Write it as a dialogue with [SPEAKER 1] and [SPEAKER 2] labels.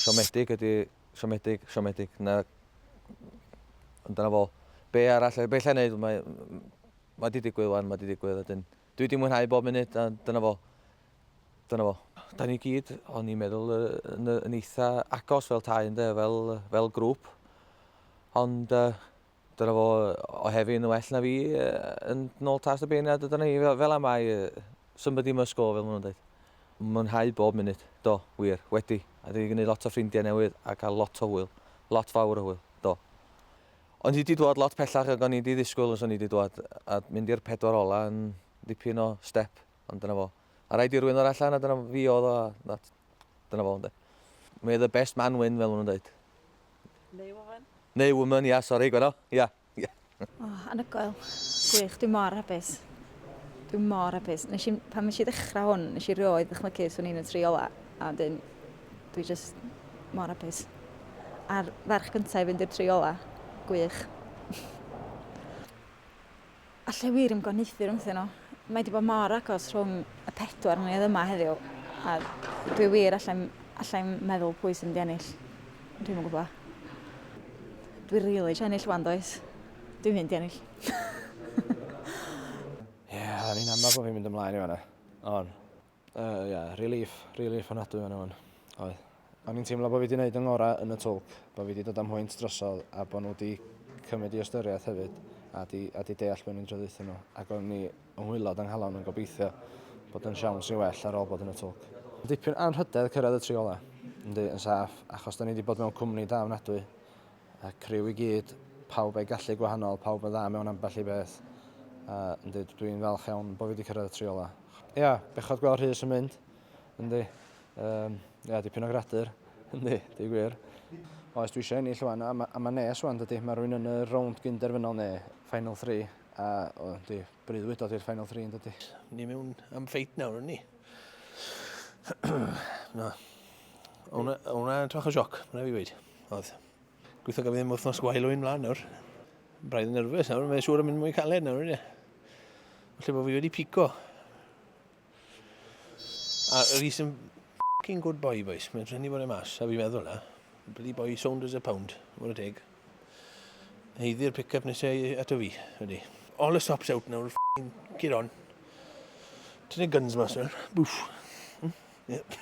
[SPEAKER 1] Siomedig ydi siomedig, siomedig. Na... Ond dyna fo. Be arall, be allai wneud? Mae... Mae di digwydd wan, mae di digwydd. Ydyn. Dwi di mwynhau bob munud, a dyna fo. Dyna fo. Da ni gyd, o'n i'n meddwl, yn, yn eitha agos fel tai, ynde, fel, fel grŵp. Ond... Uh, Dyna fo o hefyd yn well na fi yn nôl tas y beirniad a dyna ni fel am ai somebody must go fel maen nhw'n dweud. Mwynhau bob munud, do, wir, wedi, a dwi wedi gwneud lot o ffrindiau newydd a cael lot o hwyl, lot fawr o hwyl, do. O'n i wedi dod lot pellach ag o'n i wedi ddisgwyl os o'n i wedi dod a mynd i'r pedwar ola yn dipyn o step, ond dyna fo. A rhaid i rwy'n ddod allan a dyna fi oedd o a dyna fo, ynddo. May the best man win fel maen nhw'n dweud. Neu
[SPEAKER 2] woman. Neu woman, ia, sori,
[SPEAKER 1] gwena, ia, ia. O, oh,
[SPEAKER 2] anhygoel. Gwych, dwi mor hapus. Dwi mor hapus. Nes i, pan nes i ddechrau hwn, nes i rioed ddychmygu swn i'n y tri ola, a wedyn, dwi just mor hapus. A'r ferch gyntaf i fynd i'r tri ola, gwych. Allai wir ymgoniaethu rhwngthyn nhw. Mae wedi bod mor agos rhwng y pedwar ni oedd yma heddiw. A dwi wir allai'n allai meddwl pwy sy'n di ennill. Dwi'n yn gwybod. Dwi'n rili really ennill wan does. Dwi'n mynd i ennill.
[SPEAKER 3] Ie, yeah, ni'n amlaf bod fi'n mynd ymlaen i fanna. On. Uh, yeah, relief, relief anadwy fan o'n. Oedd. O'n i'n teimlo bod fi wedi gwneud yng ngorau yn y twlc, bod fi wedi dod am hwynt drosodd a bod nhw wedi cymryd i ystyriaeth hefyd a di, a di deall beth ni'n traduthyn nhw. Ac o'n ni yng ngwylod anghalon yn gobeithio bod yn siawns i well ar ôl bod yn y twlc. Dipyn anrhydedd cyrraedd y tri ola, yndi, yn saff, achos da ni wedi bod mewn cwmni da ofnadwy. Y criw i gyd, pawb a'i gallu gwahanol, pawb yn dda mewn ambell i beth. A yndi, dwi'n falch iawn bod fi wedi cyrraedd y tri ola. Ia, bechod gweld Rhys yn mynd. Yndi. Um, ia, dipyn o gradur. Yndi, di gwir. Oes, dwi eisiau ennill rwan, a, ma, a mae nes rwan, dydy. Mae rwy'n yn y rownd gynderfynol neu Final 3, a o, di, breuddwyd o'r Final 3 yn dydy. Ni mewn am
[SPEAKER 4] ffeit nawr, yn ni? Na. Hwna, hwna, twach o sioc, mae'n fi wedi. Oedd. Gweithio gyda fi am wythnos gwael o'n mlaen nawr. Braidd yn nerfus nawr, mae'n siŵr yn mynd mwy caled nawr, ie. Felly bod fi wedi pico. A Rhys yn f***ing good boy, boys. Mae'n trefnu bod e mas, a fi meddwl na. Bloody boy, sound as a pound. Mae'n teg. Heiddi'r pick-up nesau ato fi, wedi. All the stops out nawr, f***ing get on. Ti'n ei guns mas nawr, bwff. Hmm? Yeah.